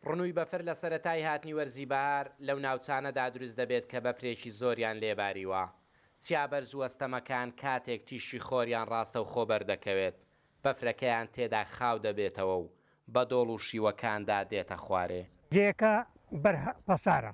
ڕنووی بەفر لە سەرەتای هاتنی وەرزی بەهار لەو ناوچانەدا دروست دەبێت کە بەفرێکی زۆریان لێ باریوە. چیا بەرز و ئەستەمەکان کاتێک تیشکی خۆریان ڕاستەوخۆ بەردەکەوێت، بەفرەکەیان تێدا خاو دەبێتەوە و بە دۆڵ و شیوەکاندا دێتە خوارێ. جێیەکە بەر پەسارە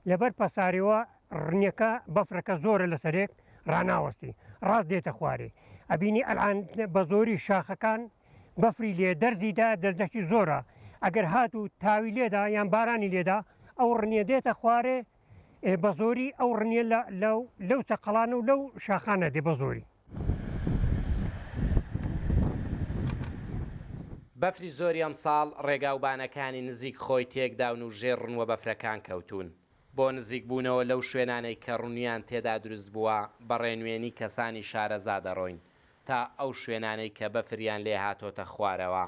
لەبەر پەسارەوە ڕنیەکە بەفرەکە زۆرە لەسەرێک ڕاناوەستی ڕاست دێتە خوارێ ئەبینی ئەلان بە زۆری شاخەکان بەفری لێ دەرزیدا دەرزەکی زۆرە ئەگەر هات و تاوی لێدا یان بارانی لێدا ئەو ڕنیە دێتە خوارێ بە زۆری ئەو ڕنیە لەو چەقەڵانە و لەو شاخانە دێ بە زۆری بەفری زۆری ئەمساڵ ڕێگاوبانەکانی نزیک خۆی تێکداون و ژێر ڕنوە بەفرەکان کەوتوون، بۆ نزیکبوونەوە لەو شوێنانەی کە ڕنویان تێدا دروست بووە بە ڕێنوێنی کەسانی شارەزا دەڕۆین تا ئەو شوێنانەی کە بەفریان لێ هاتۆتە خوارەوە،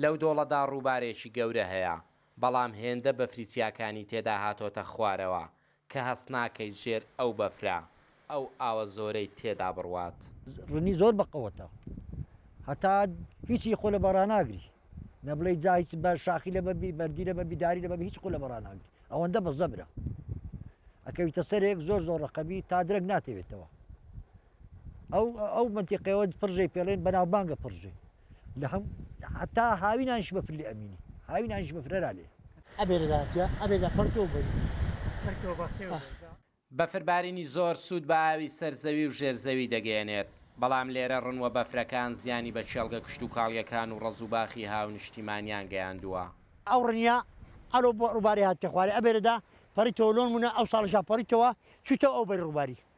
لەو دۆڵەدا ڕووبارێکی گەورە هەیە بەڵام هێندە بەفری چیاکانی تێدا هاتۆتە خوارەوە کە هەست ناکەیت ژێر ئەو بەفرە ئەو ئاوە زۆرەی تێدا بڕوات. ڕنی زۆر بە قوتە هەتا هیچی خۆ لە بە ڕاناگری نە بڵێی جا هیچ بە شاخی لە بەبی بەردی لە بەبی داری لە بەبی هیچ خۆ لە بە ڕاناگری ئەوەندە بە زەبرە ئەکەویتە سەرێک زۆر زۆر ڕقەبی تا درەک ناتەوێتەوە ئەو ئەو منتیقەوە پڕژەی پێڵێن بەناوبانگە پڕژەی لە هەم حتا هاوینانش بەفر لێ ئەمینی هاوینانش بەفرەرا لێ بەفربارینی زۆر سوود بە ئاوی سەر زەوی و ژێر زەوی دەگەیەنێت، بەڵام لێرە ڕنووە بەفرەکان زیانی بە کێڵگە کشتوکاڵییەکان و ڕەز و باخی هاونیشتیمانیان گەیاندووە. ئەو ڕنیە ئەرۆ بۆ ڕووبارێ هاتتە خوارێ ئەبێرێدا پەڕیتەوە لۆنموونە ئەوساڵیشا پەڕیتەوە چوویتەوە ئەو بەری ڕووباری.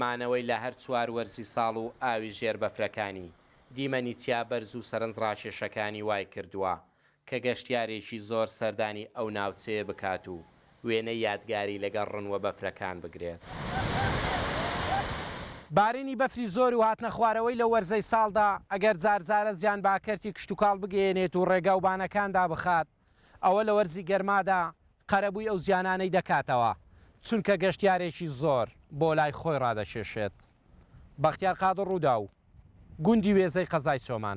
مانەوەی لە هەر چوار وەرزی ساڵ و ئاوی ژێر بەفرەکانی، دیمەنی چیا بەرز و سەرنجڕاکێشەکانی وایکردووە کە گەشتیارێکی زۆر سەردانی ئەو ناوچەیە بکات و وێنەی یادگاری لەگەڵ ڕن و بەفرەکان بگرێت. بارینی بەفری زۆر و هاتنەخوارەوەی لە وەرزەی ساڵدا، ئەگەر جارجارە زیان بە کەرتی کشتوکاڵ بگەیەنێت و ڕێگا و بانەکان دابخات، ئەوە لە وەرزی گەرمادا قەرەبووی ئەو زیانانەی دەکاتەوە، چونکە گەشتیارێکی زۆر بۆ لای خۆی ڕادەکێشێت. بەختیار قادر ڕووداو، گوندی وێزەی قەزای چۆمان.